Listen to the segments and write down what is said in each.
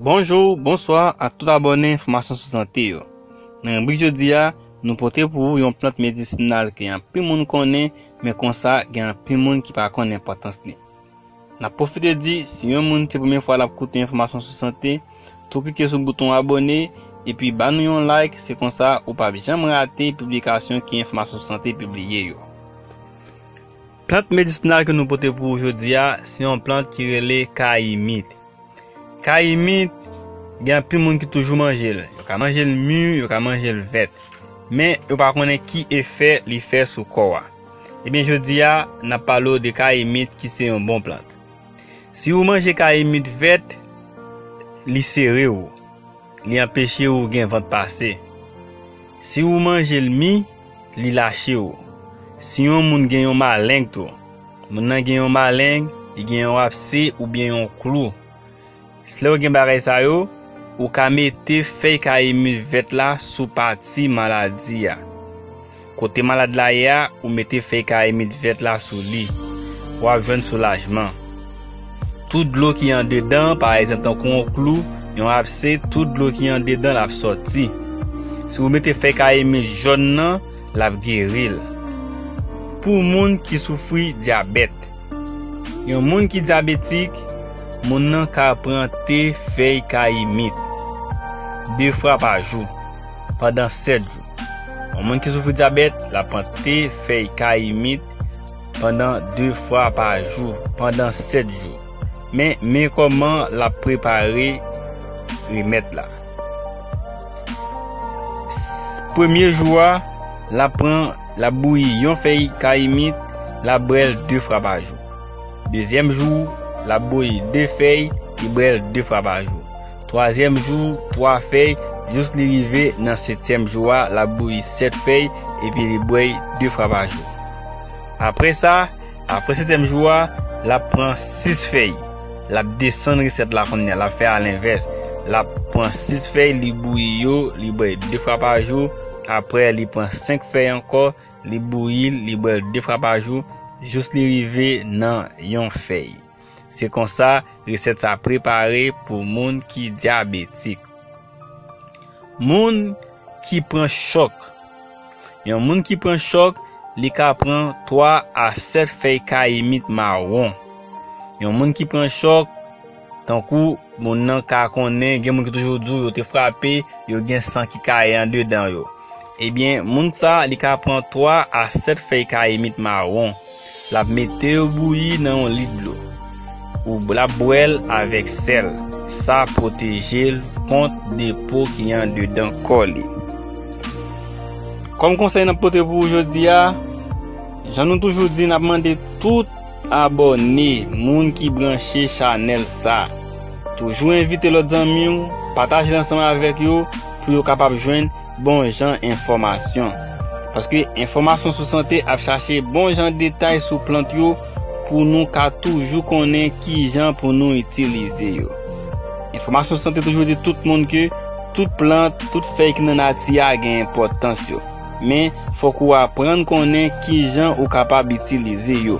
Bonjou, bonswa ak tout abòne enfòmasyon sou sante yo. Nan ribrik jodi a, nou pote pou ou yon plant medisinal ke anpil moun konnen men konsa gen anpil moun ki pa konn enpòtans li. Nap pwofite di si yon moun se premye fwa lap koute enfòmasyon sou sante, tou klike sou bouton abòne epi ba nou yon like se konsa ou pap janm rate piblikasyon ke enfòmasyon sou sante pibliye yo. Plant medisinal ke nou pote pou ou jodi a, se yon plant ki rele kayimit. Kayimit, gen anpil moun ki toujou manje l. Yo ka manje l mi, yo ka manje l vèt. Men, yo pa konnen ki efè li fè sou kò a. Ebyen jodi a, n ap pale ou de kayimit ki se yon bon plant. Si ou manje kayimit vèt, li sere ou. Li anpeche ou gen vant pase. Si ou manje l mi. li lache ou. Si yon moun gen yon maleng tou, moun nan gen yon maleng, li gen yon apse oubyen yon klou. Si lè ou gen bagay sa yo, ou ka mete fèy kayimil vèt la sou pati maladi a. Kote malad la ye a, ou mete fèy kayimil vèt la sou li. Wap jwenn soulajman. Tout dlo ki andedan an, pa egzanp tankou yon klou, yon apse, tout dlo ki andedan l ap sòti. Si ou mete fèy kayemis jòn nan, l ap geri l. Pou moun ki soufri dyabèt. Yon moun ki dyabetik, moun nan ka pran te fèy kayimit 2 fwa pa jou, pandan 7 jou. Yon moun ki soufri dyabèt, l ap pran te fèy kayimit. Pandan 2 fwa pa jou, pandan 7 jou. Men, men kòman l ap prepare remèd la. Premye jou a, l ap pran, l ap bouyi yon fèy kayimit, l ap bwè l 2 fwa pa jou. Dezyèm jou, l ap bouyi 2 fèy, li bwè l 2 fwa pa jou. Twazyèm jou, twa fèy, jous li rive nan setyèm jou a, l ap bouyi sèt fèy, epi li bwè de fwa pa jou. Apre sa, apre setyèm jou a, l ap pran sis fèy. L ap desann resèt la kounye a, l ap fè alenvès. L ap pran sis fèy, li bouyi yo, li bwè de fwa pa jou. Apre, li pran senk fèy ankò, li bouyi l, li bwè l de fwa pa jou, jous li rive nan yon fèy. Se konsa resèt sa prepare pou moun ki dyabetik. Moun ki pran chòk. Yon moun ki pran chòk, li ka pran 3 a 7 fèy kayimit mawon. Yon moun ki pran chòk, tankou moun nan ka konnen, gen moun ki toujou di w yo te frape, yo gen san ki kaye andedan yo. Ebyen, moun sa li ka pran 3 a 7 fèy kayimit mawon. L ap mete yo bouyi nan yon lit dlo. L ap bwè l avèk sèl. Sa ap pwoteje l kont depo ki andedan kò li. Kòm konsèy n ap pote pou ou jodi a, jan nou toujou di n ap mande tout abòne, moun ki branche chanèl sa, toujou envite lòt zanmi w, pataje l ansanm avèk yo pou yo kapab jwenn. bon jan enfòmasyon. Paske enfòmasyon sou sante ap chache bon jan detay sou plant yo pou nou ka toujou konnen ki jan pou nou itilize yo. Enfòmasyon sou sante toujou di tout moun ke tout plant, tout fèy ki nan nati a gen enpòtans yo. Men, fòk ou aprann konnen ki jan ou kapab itilize yo.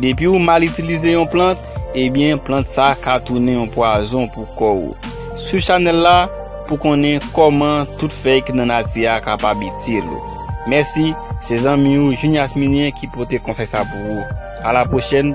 Depi ou mal itilize yon plant, ebyen plant sa ka tounen yon pwazon pou kò ou. Swiv chanèl la pou konnen kòman tout fèy ki nan nati a kapab itil ou. Mèsi, se zanmi ou Juny Asminyen ki pote konsèy sa pou ou. A la pwochèn!